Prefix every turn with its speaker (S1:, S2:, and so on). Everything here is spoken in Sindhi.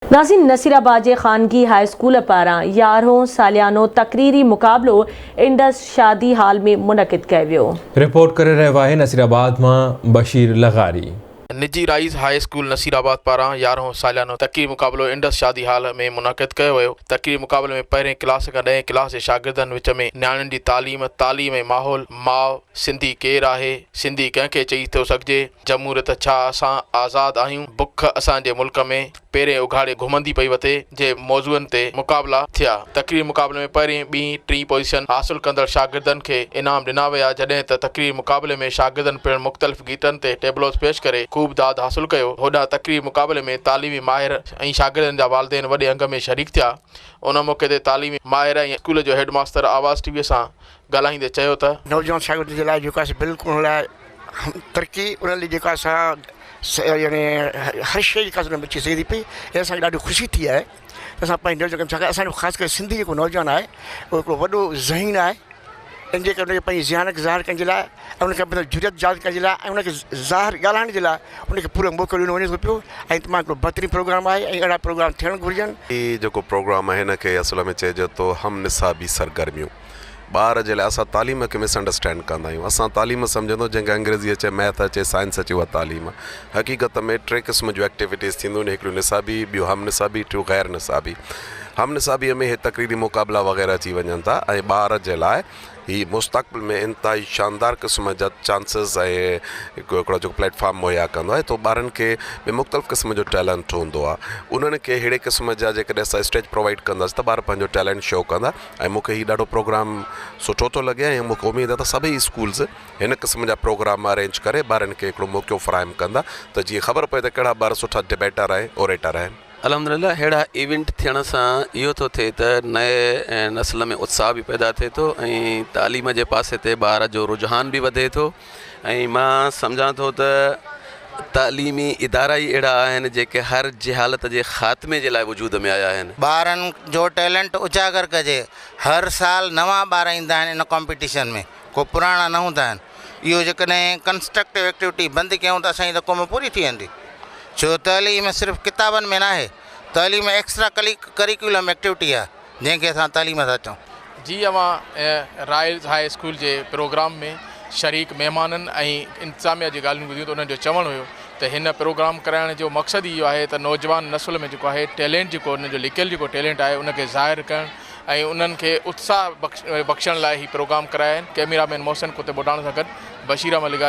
S1: ناظم نصير آباد جي خانگي هاء اسڪول پاران يارهون ساليانو تقريري مقابلو انڊس شادي هال ۾ منعقد ڪيو ويو. رپورٽ ڪري رهيو
S2: آهي نصير آباد مان بشير لغاري. نجي Rise
S3: high school Nasirabad پاران يارهون ساليانو تقريري مقابلو انڊس شادي هال ۾ منعقد ڪيو ويو. تقريري مقابلي ۾ پهرين ڪلاس کان ڏهين ڪلاس جي شاگردن وچ ۾ نياڻين جي تعليم، تعليم ۽ ماحول، ماء، سنڌي ڪير آهي؟ سنڌي ڪنهن کي چئي ٿو سگهجي؟ جمهوريت ڇا؟ اسان آزاد آهيون؟ بک اسان جي ملڪ ۾ پيرين اگهاڙي گهمندي پئي وتي جي موضوعن تي مقابلا ٿيا. تقرير مقابلي ۾ پهرين، ٻين، ٽين پوزيشن حاصل ڪندڙ شاگردن کي انعام ڏنا ويا جڏهن ته تقرير مقابلي ۾ شاگردن پڻ مختلف گيٽن تي ٽيبلوز پيش ڪري خوب داد حاصل ڪيو. هوڏانهن تقرير مقابلي ۾ تعليمي ماهر ۽ شاگردن جا والدين وڏي انگ ۾ شريڪ ٿيا. ان موقعي تي تعليمي ماهر ۽ اسڪول جو هيڊ ماستر آواز ٽي وي سان ڳالهائيندي چيو ته. نوجوان شاگرد جي لاء
S4: جيڪا سي بلڪل ان لاء ترقي ان لي جيڪا سا يعني هر شيء جيڪا سا بچي سگهي ٿي پئي ۽ اسان کي ڏاڍي خوشي ٿي آهي ته اسان پنهنجي نوجوان ڇاڪاڻ اسان جو خاص ڪري سنڌي جيڪو نوجوان آهي اهو هڪڙو وڏو ذهين آهي ان جي ڪري ان کي پنهنجي ذهانت ظاهر ڪرڻ جي لاء ۽ ان کي پنهنجو جرئت ظاهر ڪرڻ جي لاء ۽ ان کي ظاهر ڳالهائڻ جي لاء ان کي پورو موقعو ڏنو وڃي ٿو پيو ۽ تمام هڪڙو بهترين پروگرام آهي ۽ اهڙا پروگرام ٿيڻ گهرجن. هي جيڪو پروگرام
S5: آهي هن کي اصل ۾ چئجي ٿو هم نصابي سرگرميون. ٻار جي لاء اسان تعليم کي مس انڊرسٽينڊ ڪندا آهيون اسان تعليم سمجهندو جنهن کي انگريزي اچي ميٿ اچي سائنس اچي اها تعليم حقيقت ۾ ٽي قسم جون ايڪٽيويٽيز ٿينديون آهن هڪڙيون نصابي ٻيون هم نصابي ٽيون غير نصابي هم نصابي ۾ هي تقريري مقابلا وغيره اچي وڃن ٿا ۽ ٻار جي لاء هي مستقبل ۾ انتهائي شاندار قسم جا چانسز ۽ هڪڙو جو پليٽ فارم مهيا ڪندو آهي تو ٻارن کي ٻي مختلف قسم جو ٽيلنٽ هوندو آهي انهن کي ههڙي قسم جا جيڪڏهن اسان اسٽيج پرووائيڊ ڪنداسين ته ٻار پنهنجو ٽيلنٽ شو ڪندا ۽ مون کي هي ڏاڍو پروگرام سٺو ٿو لڳي ۽ مونکي اميد آ ته سڀئي اسڪولز هن قسم جا پروگرام ارينج ڪري ٻارن کي هڪڙو موقعو فراهم ڪندا ته جيئن خبر پوي ته ڪهڙا ٻار سٺا ڊبيٽر ۽ اوريٽر آهن. الحمدلله اهڙا
S6: ايونٽ ٿيڻ سان اهو ٿو ٿئي ته نئين نسل ۾ اتساهه به پيدا ٿئي ٿو ۽ تعليم جي پاسي تي ٻار جو رجحان به وڌي ٿو ۽ مان سمجهان ٿو ته تعليمي ادارا ئي اهڙا آهن جيڪي هر جهالت جي خاتمي جي لاء وجود ۾ آيا آهن. ٻارن جو
S7: ٽيلنٽ اجاگر ڪجي، هر سال نوان ٻار ايندا آهن ان ڪامپيٽيشن ۾ ڪو پراڻا نه هوندا آهن، اهو جيڪڏهن ڪنسٽرڪٽو ايڪٽيوٽي بند ڪيون ته اسان جي ته قوم پوري ٿي ويندي ڇو تعليم صرف ڪتابن ۾ ناهي تعليم ايڪسٽرا ڪلي ڪريڪولم ايڪٽيوٽي آهي. جنهن کي اسان تعليم ٿا چئون. جي اوهان
S3: رائلز هاء اسڪول جي پروگرام ۾ شريڪ مهمانن ۽ انتظاميا جي ڳالهيون ٻڌيون ته انهن جو چوڻ هيو ته هن پروگرام ڪرائڻ جو مقصد ئي اهو آهي ته نوجوان نسل ۾ جيڪو آهي ٽيلينٽ جيڪو انهن جو لڪيل جيڪو ٽيلينٽ آهي ان کي ظاهر ڪرڻ ۽ انهن کي اتساهه بخشڻ لاء هي پروگرام ڪرايا آهن ڪئميرا مين محسن ڪتب اڏاڻ سان گڏ بشير احمد لغاري.